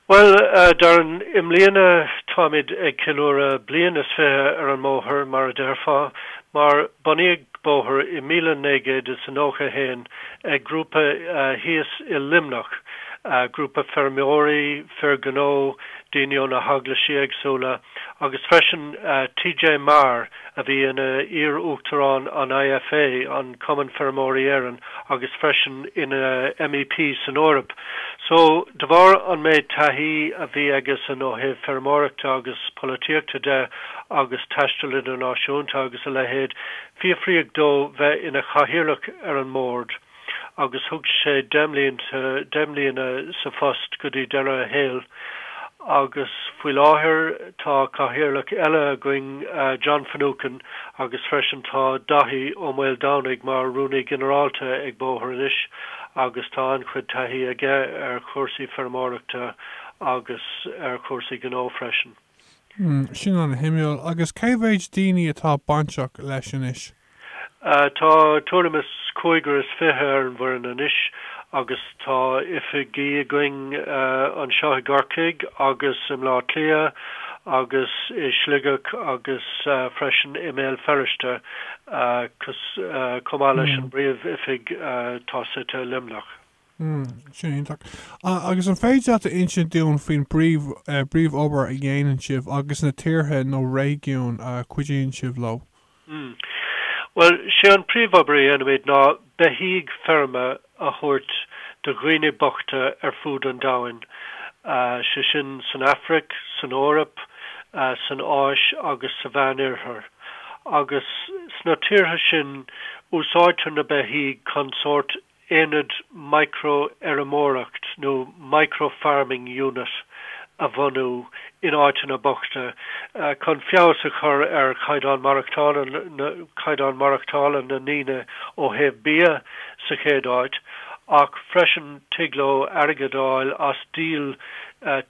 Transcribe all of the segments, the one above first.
Bhuel, a Darren, i mbliana táimid ag ceiliúradh bliain is fiche ar an mbóthar, mar a déarfá, mar bunaíodh Bóthar i míle naoi gcéad is a nócha haon ag grúpa thíos i Luimneach, grúpa feirmeoirí, fir ghnó, daoine ó na heaglaisí éagsúla agus freisin T.J. Maher, a bhí ina iar-uachtarán an IFA, an Cumann Feirmeoirí Éireann, agus freisin ina MEP san Eoraip. So, de bharr an méid taithí a bhí aigesean ó thaobh feirmeoireachta agus polaitíochta de agus taisteal idirnáisiúnta agus a leithéid, fiafraíodh dó bheith ina chathaoirleach ar an mBord. agus thug sé deich mbliana, deich mbliana sa phost go dtí deireadh a shaoil agus faoi láthair tá cathaoirleach eile againn, John Finucane, agus freisin tá Daithí Ó Maoldomhnaigh mar Rúnaí Ginearálta ag Bóthar anois agus tá an-chuid taithí aige ar chúrsaí feirmeoireachta agus ar chúrsaí gnó freisin. Sin ana-shuimiúil. Agus cé mhéid daoine atá bainteach leis anois? Tá tuairim is cúigear is fiche ar an bhfoireann anois agus tá oifigí againn anseo i gCorcaigh agus i mBleá Cliath agus i Sligeach agus freisin i mBéal Feirste chomh maith leis an bpríomhoifig atá suite i Luimneach. Hmm, sin iontach. Agus an féidir leat a insint dúinn faoin bpríomhobair a dhéanann sibh agus na tíortha nó réigiúin a chuidíonn sibh leo? Hmm. Bhuel, 'sé an príomhobair a dhéanaimid ná beithígh feirme a thabhairt do dhaoine bochta ar fud an domhain, 'sé sin san Afraic, san Eoraip, san Áis agus sa Mheánoirthear. Agus sna tíortha sin úsáidtear na beithígh chun sórt aonad micro-fheirmeoireacht nó micro-farming unit a bhunú in áiteanna bochta chun feabhas a chur ar chaighdeán maireachtála, caighdeán maireachtála na ndaoine ó thaobh bia sa chéad áit, ach freisin tig leo airgead a fháil as díol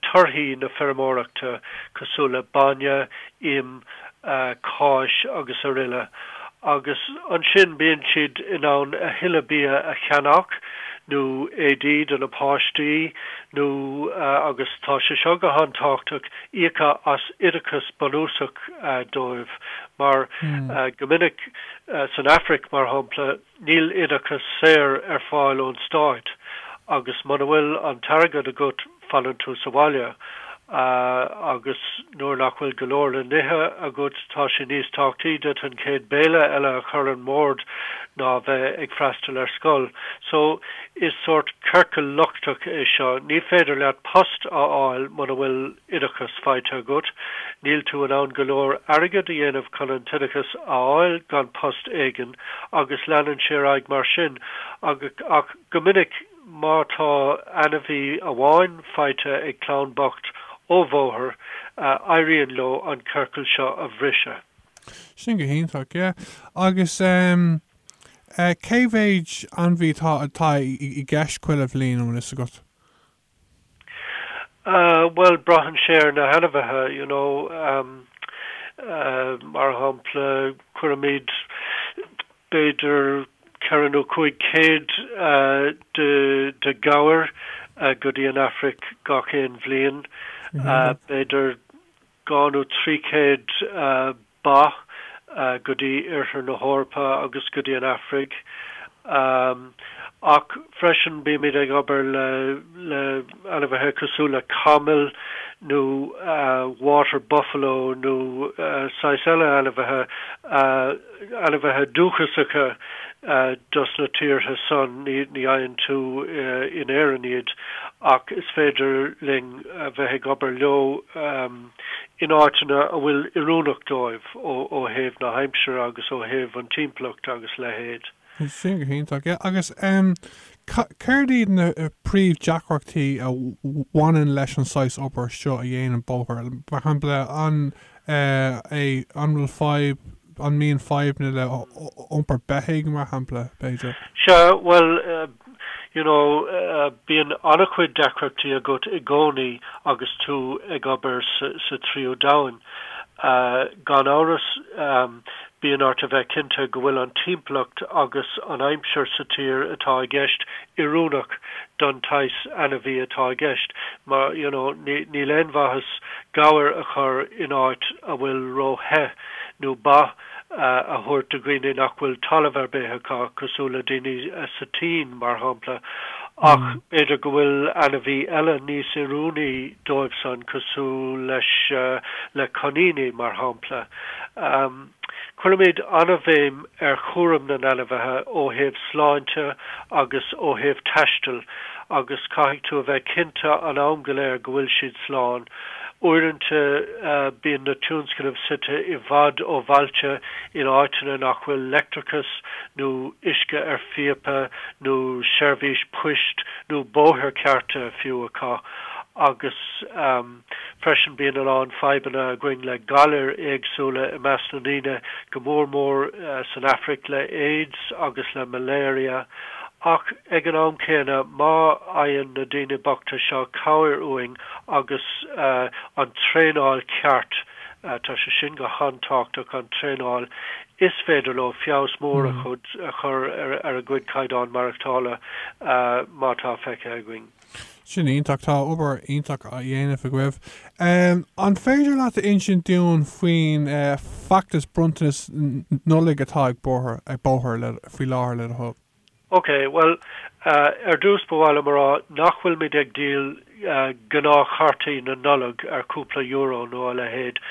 torthaí na feirmeoireachta cosúil le bainne, im, cáis agus araile agus ansin bíonn siad in ann a thuilleadh bia a cheannach nó éadaí do na páistí nó agus tá sé seo go han-tábhachtach íoc as oideachas bunúsach dóibh mar go minic san Afraic mar shampla Níl oideachas saor ar fáil ón stát agus muna bhfuil an t-airgead agat fanann tú sa bhaile agus nuair nach bhfuil go leor le n-ithe agat tá sé níos tábhachtaí duit an chéad béile eile a chur ar an mbord ná bheith ag freastal ar scoil. So is sórt ciorcal lochtach é seo. Ní féidir leat post a fháil muna bhfuil oideachas faighte agat, níl tú in ann go leor airgid a dhéanamh chun an t-oideachas a fháil gan post éigin, agus leanann sé ar aghaidh mar sin. Ach go minic, má tá ainmhí amháin faighte ag clann bocht ó Bhóthar, éiríonn leo an ciorcal seo a bhriseadh. Sin go hiontach, yeah. Agus cé mhéid ainmhí atá i gceist chuile bhliain, an bhfuil fhios agat? Bhuel, braitheann sé ar na hainmhithe, you know. Mar shampla, cuirimid b'fhéidir ceithre nó cúig céad de ghabhair go dtí an Afraic gach aon bhliain. B'fhéidir dhá nó trí chéad ba go dtí Oirthear na hEorpa agus go dtí an Afraic ach freisin bímid ag obair le le ainmhithe cosúil le camaill nó water buffalo nó saghas eile ainmhithe, ainmhithe dúchasacha dos na tíortha san, ní fhaigheann tú in Éirinn iad ach is féidir linn bheith ag obair leo. in áiteanna a bhfuil oiriúnach dóibh ó thaobh na haimsire agus ó thaobh an timpeallacht agus a leithéid. Sin go hiontach. Yeah agus em céard iad na príomhdheacrachtaí a bhaineann leis an saghas obair seo a dhéanann Bóthar mar shampla an eh an bhfuil fadhb An mbíonn fadhbanna le hiompar beithigh, mar shampla, b'fhéidir? Sea, bhuel, you know, bíonn an-chuid deacrachtaí agat i gcónaí agus tú ag obair sa Tríú Domhan. Gan amhras, bíonn ort a bheith cinnte go bhfuil an timpeallacht agus an aimsir sa tír atá i gceist oiriúnach don tsaghas ainmhí atá i gceist. Mar, you know, níl aon mhaitheas gabhair a chur in áit a bhfuil ró-the. nó ba a thabhairt do dhuine nach bhfuil talamh ar bith acu, cosúil le daoine sa tSín, mar shampla, ach b'fhéidir go bhfuil ainmhí eile níos oiriúnaí dóibhsan, cosúil leis, le coiníní, mar shampla. Cuirimid an-bhéim ar chúram na n-ainmhithe ó thaobh sláinte agus ó thaobh taistil agus caithfidh tú a bheith cinnte an am go léir go bhfuil siad slán. Uaireanta bíonn na tionscnaimh suite i bhfad ó bhailte, in áiteanna nach bhfuil leictreachas nó uisce ar phíopa nó seirbhís poist nó bóithre cearta fiú acu, agus freisin bíonn a lán fadhbanna againn le galair éagsúla i measc na ndaoine, go mór mór san Afraic le AIDS agus le malaria. Ach ag an am céanna, má fhaigheann na daoine bochta seo cabhair uainn, agus an traenáil ceart, tá sé sin go han-tábhachtach, an traenáil is féidir leo feabhas mór a chur ar a gcuid caighdeán maireachtála mar atá feicthe againn. Sin iontach, tá obair iontach á dhéanamh agaibh. An féidir leat a insint dúinn faoin bhfeachtas bronntanas Nollag atá ag Bóthar faoi láthair le do thoil? OK, bhuel, ar dtús ba mhaith liom a rá nach bhfuilimid ag díol gnáthchártaí na Nollag ar chúpla euro nó a leithéid,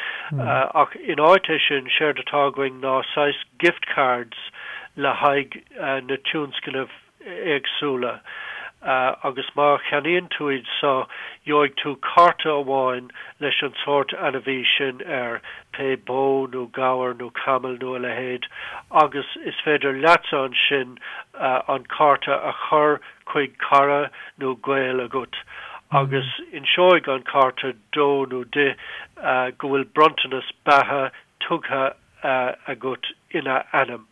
ach in áit é sin, séard atá againn ná saghas gift cards le haghaidh na tionscnamh éagsúla agus má cheannaíonn tú iad seo, gheobhaidh tú cárta amháin leis an sórt ainmhí sin air, pé bó nó gabhar nó camall nó a leithéid, agus is féidir leatsa ansin an cárta a chur chuig cara nó gaol agat agus inseoidh an cárta dó nó di go bhfuil bronntanas beatha tugtha agat ina ainm.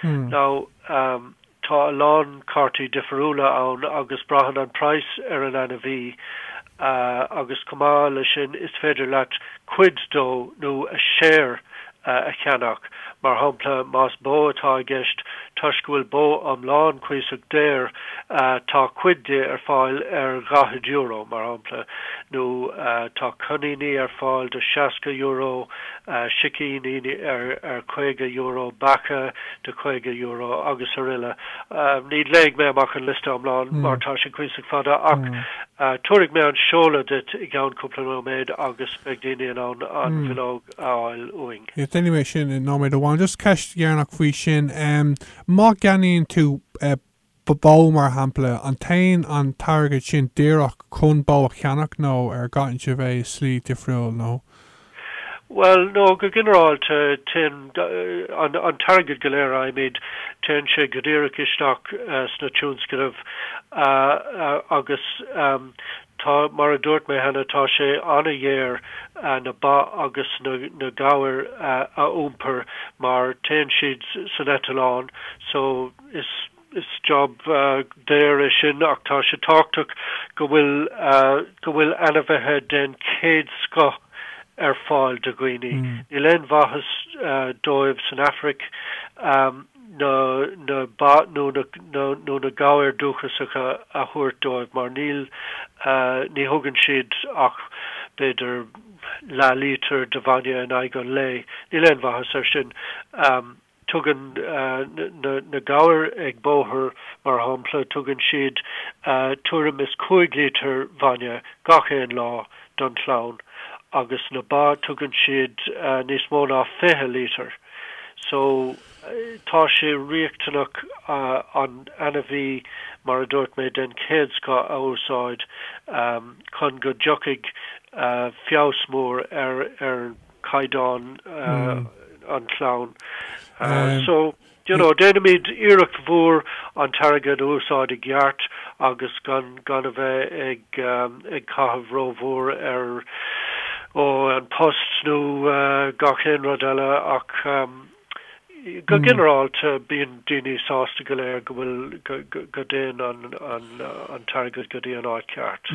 Now, tá a lán cártaí difiriúla ann agus braitheann an price ar an ainmhí agus chomh maith leis sin is féidir leat cuid dó nó a share a cheannach. Mar shampla, más bó atá i gceist, toisc go bhfuil bó iomlán cuíosach daor, tá cuid di ar fáil ar dhaichead euro, mar shampla, nó tá coiníní ar fáil do seasca euro, sicíní ar €50, beacha de €50 agus araile. Ní léifidh mé amach an liosta iomlán mar tá sin cuíosach fada ach tabharfaidh mé an seoladh duit i gceann cúpla nóiméad agus beidh daoine in ann an bhileog a fháil uainn. Yes, déanfaidh mé sin in nóiméad amháin. Just ceist dheireanach faoi sin, má cheannaíonn tú bó mar shampla, an dtéann an t-airgead sin díreach chun bó a cheannach nó an gcaitheann sibh é i slí difriúil nó. Bhuel, no, go ginearálta, téann an t-airgead go léir a fhaighimid, téann sé go díreach isteach sna tionscnaimh agus tá, mar a dúirt mé cheana, tá sé an-dhaor na ba agus na gabhair a iompar mar téann siad san eitileán, so, So is job daor é sin ach tá sé tábhachtach go bhfuil go bhfuil ainmhithe den chéad scoth ar fáil do dhaoine. Níl aon mhaitheas dóibh san Afraic na na ba nó nó na gabhair dúchasacha a thabhairt dóibh mar níl ní thugann siad ach b'fhéidir leath lítear de bhainne in aghaidh an lae. Níl aon mhaitheas air sin. Tugann na gabhair ag Bóthar, mar shampla, tugann siad tuairim is cúig lítear bhainne gach aon lá don chlann agus na ba tugann siad níos mó ná fiche lítear. So, tá sé riachtanach an t-ainmhí, mar a dúirt mé, den chéad scoth a úsáid chun go dtiocfaidh feabhas mór ar caighdeán an chlann. So you know déanaimid iarracht mhór an t-airgead a úsáid i gceart agus gan gan a bheith ag ag caitheamh rómhór ar ó an post nó gach aon rud eile ach go ginearálta bíonn daoine sásta go leor go bhfuil go dtéann an an an t-airgead go dtí an áit ceart.